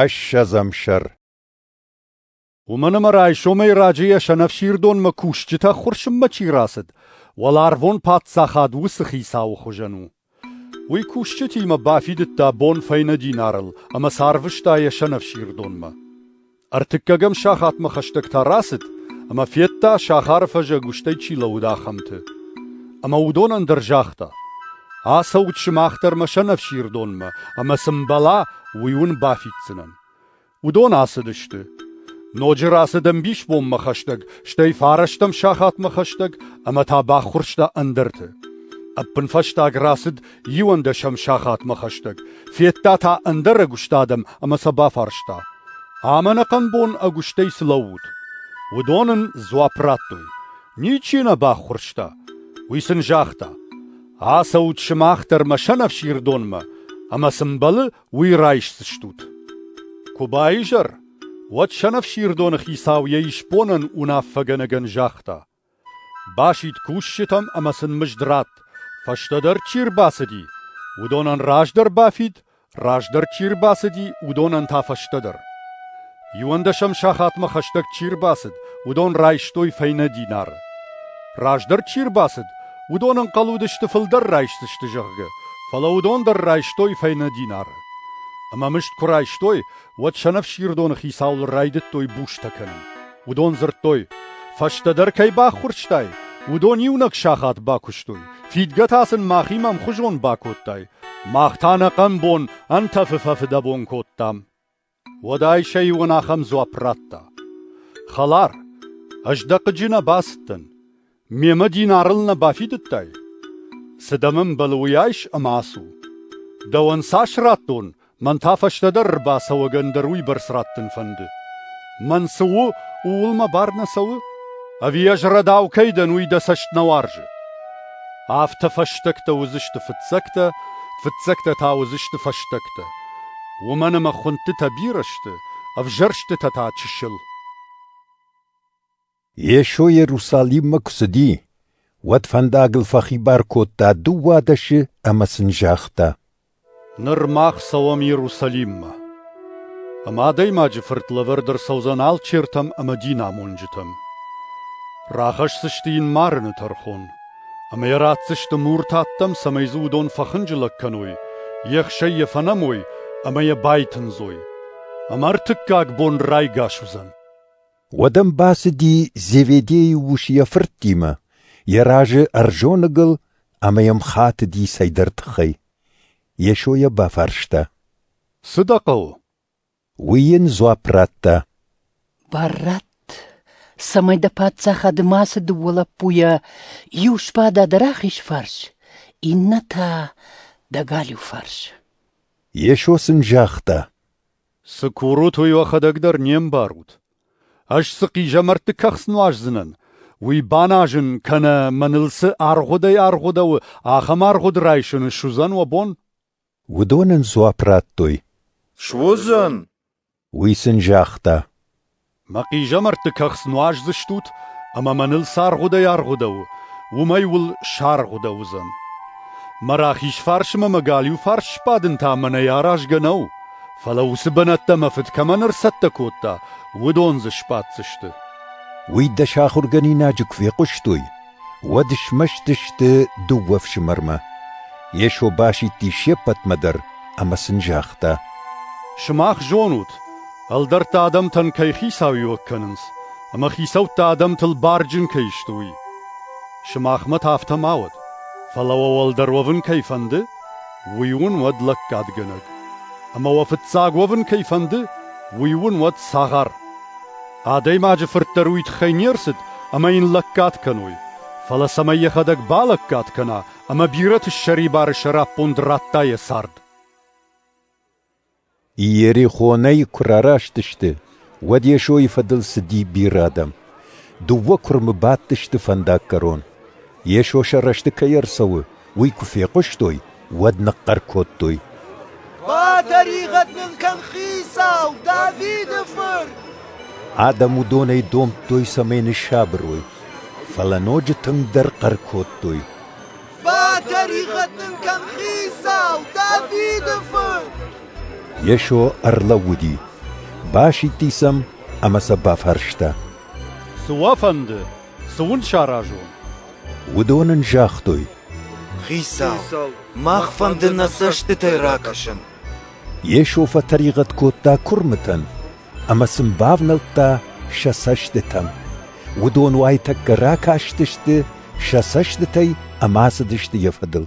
Ӕссӕдзӕм сӕр Уымӕн ӕмӕ райсомӕй раджы йӕ сӕнӕфсирдонмӕ кусджытӕ хуырсынмӕ чи рацыд, уӕларвон паддзахад уыцы хицауы хуызӕн у. Уый кусджытимӕ бафидыдта бон фӕйнӕ динарыл ӕмӕ сӕ арвыста йӕ сӕнӕфсирдонмӕ. Ӕртыккӕгӕм сахатмӕ хӕстӕгтӕ рацыд, ӕмӕ федта, сахары фӕзӕг уыстӕй чи лӕууыд, ахӕмты. Ӕмӕ уыдонӕн дӕр загъта: «Ацӕут сымах дӕр мӕ сӕнӕфсирдонмӕ, ӕмӕ цы мбӕла, уый уын бафиддзынӕн». Уыдон ацыдысты. Ноджы рацыд ӕмбисбонмӕ хӕстӕг, стӕй фарӕстӕм сахатмӕ хӕстӕг, ӕмӕ та баххуырста ӕндӕрты. Ӕппынфӕстаг рацыд Иуӕндӕсӕм сахатмӕ хӕстӕг федта та ӕндӕр ӕгуыст адӕм ӕмӕ сӕ бафарста, ӕмӕнӕхъӕн бон ӕгуыстӕй цы лӕуут? Уыдон ын дзуапп радтой: ничи нӕ баххуырста. Уый сын загъта: ацӕут сымах дӕр мӕ сӕнӕфсирдонмӕ, ӕмӕ цы мбӕлы, уый райсдзыстут. Куы баизӕр, уӕд сӕнӕфсирдоны хицау йӕ исбонӕн уынаффӕгӕнӕгӕн загъта: Басидт кусджытӕм ӕмӕ сын мызд ратт, фӕстӕдӕр чи рбацыди, уыдонӕн раздӕр бафид, раздӕр чи рбацыди, уыдонӕн та фӕстӕдӕр. Иуӕндӕсӕм сахатмӕ хӕстӕг чи рбацыд, уыдон райстой фӕйнӕ динар. Раздӕр чи рбацыд, уыдон ӕнхъӕл уыдысты, фылдӕр райсдзысты, зӕгъгӕ, фӕлӕ уыдон дӕр райстой фӕйнӕ динар. Ӕмӕ мызд куы райстой, уӕд сӕнӕфсирдоны хицауыл райдыдтой бустӕ кӕнын. Уыдон дзырдтой, фӕстӕдӕр кӕй баххуырстай, уыдон иунӕг сахат бакуыстой, фидгӕ та сын махимӕ ӕмхуызон бакодтай. Мах та нӕ хъӕмбон ӕнтӕфы фӕфыдӕбон кодтам. Уӕдӕй сӕ иуӕн ахӕм дзуапп радта. Хӕлар, ӕз дӕ хъыджы нӕ бацыдтӕн. Мемӕ динарыл нӕ бафидыдтай? Цы дӕм ӕмбӕлы, уый айс ӕмӕ ацу. Дӕуӕн цас радтон, мӕн та фӕстӕдӕр ӕрбацӕуӕг ӕндӕр уыйбӕрц радтын фӕнды. Мӕн цы у, ууыл мӕ бар нӕ цӕуы? Ӕви ӕз рӕдау кӕй дӕн, уый дӕ цӕст нӕ уарзы? Афтӕ фӕстӕгтӕ уыдзысты фыццӕгтӕ, фыццӕгтӕ та уыдзысты фӕстӕгтӕ. Уымӕн ӕмӕ хуындтытӕ бирӕ сты, ӕвзӕрстытӕ та чысыл. Йесо Иерусалиммӕ куы цыди, уӕд фӕндагыл фӕхибар кодта дыууадӕсы ӕмӕ сын загъта: «Ныр мах цӕуӕм Иерусалиммӕ, ӕмӕ Адӕймаджы Фырт лӕвӕрд ӕрцӕудзӕн алчертӕм ӕмӕ динамонджытӕм. Рахӕсдзысты йын марыны тӕрхон, ӕмӕ йӕ ратдзысты муртӕ ӕддӕм, цӕмӕй дзы уыдон фӕхынджылӕг кӕной, йе хсӕй йӕ фӕнӕмой ӕмӕ йӕ байтындзой, ӕмӕ ӕртыккаг бон райгас уыдзӕн. Уӕд ӕм бацыди Зеведейы ус йӕ фырттимӕ, йӕ разы ӕрзоныгыл ӕмӕ йӕм хатыди цӕйдӕр тыххӕй. Йесо йӕ бафарста. «Цы дӕ хъӕуы?» Уый йын дзуапп радта. «Баррат, цӕмӕй дӕ паддзахады мацы дыууӕ лӕппуйӕ иу сбада дӕ рахиз фарс, иннӕ та дӕ галиу фарс». Йесо сын загъта. Цы курут, уый уӕхӕдӕг дӕр не мбарут. Ӕз цы хъизӕмӕртты кӕхц нуаздзынӕн, уый баназын кӕнӕ мӕныл цы аргъуыдӕй-аргъуыдӕуы, ахӕм аргъуыд райсын суыдзӕн уӕ бон? Уыдон ын дзуапп радтой. Суыдзӕн. Уый сын загъта. Мӕ хъизӕмӕртты кӕхц нуаздзыстут ӕмӕ мӕныл цы аргъуыдӕй-аргъуыдӕ у, уымӕй уыл саргъуыдӕ уыдзӕн. Мӕ рахиз фарс ӕмӕ мӕ галиу фарс сбадын та мӕнӕй аразгӕ нӕу, фӕлӕ уыцы бынӕттӕ мӕ фыд кӕмӕн ӕрцӕттӕ кодта, уыдон дзы сбаддзысты. Уый дӕ сахуыргӕнинаджы куы фехъуыстой, уӕд смӕстысты дыууӕ фсымӕрмӕ. Йесо басидти се ппӕтмӕ дӕр ӕмӕ сын загъта: «Сымах зонут, ӕлдӕртты адӕмтӕн кӕй хицауиуӕг кӕнынц, ӕмӕ хицӕуттӕ адӕмтыл барджын кӕй сты, уый. Сымахмӕ та афтӕ ма уӕд, фӕлӕ уӕ уӕлдӕр уӕвын кӕй фӕнды, уый уын уӕд лӕггадгӕнӕг, ӕмӕ уӕ фыццаг уӕвын кӕй фӕнды, уый уын уӕд цагъар. Адӕймаджы фырт дӕр уый тыххӕй не рцыд, ӕмӕ йын лӕггад кӕной. Фӕлӕ цӕмӕй йӕхӕдӕг балӕггад кӕна ӕмӕ бирӕты ссӕрибары сӕраппонд радта йӕ цард. Иерихонӕй куы рараст сты, уӕд Йесойы фӕдыл цыди бирӕ адӕм. Дыууӕ куырмы бадтысты фӕндаггӕрон. Йесо сӕ рӕзты кӕй ӕрцӕуы, уый куы фехъуыстой, уӕд ныхъхъӕр кодтой: «Батӕригъӕд нын кӕн хицау, Давиды фырт!» Адӕм уыдонӕй домдтой, цӕмӕй ныссабырой, фӕлӕ ноджы тынгдӕр хъӕр кодтой: «Батӕригъӕд нын кӕн хицау, Давиды фырт!» Йесо ӕрлӕууыди, басидти сӕм ӕмӕ сӕ бафарста: «Цы уӕ фӕнды, цы уын саразон?» Уыдон ын загътой: Хицау, мах фӕнды нӕ цӕстытӕй ракӕсын. Йесо фӕтӕригъӕд кодта куырмытӕн ӕмӕ сын бавнӕлдта сӕ цӕстытӕм. Уыдон уайтӕккӕ ракастысты сӕ цӕстытӕй ӕмӕ ацыдысты йӕ фӕдыл.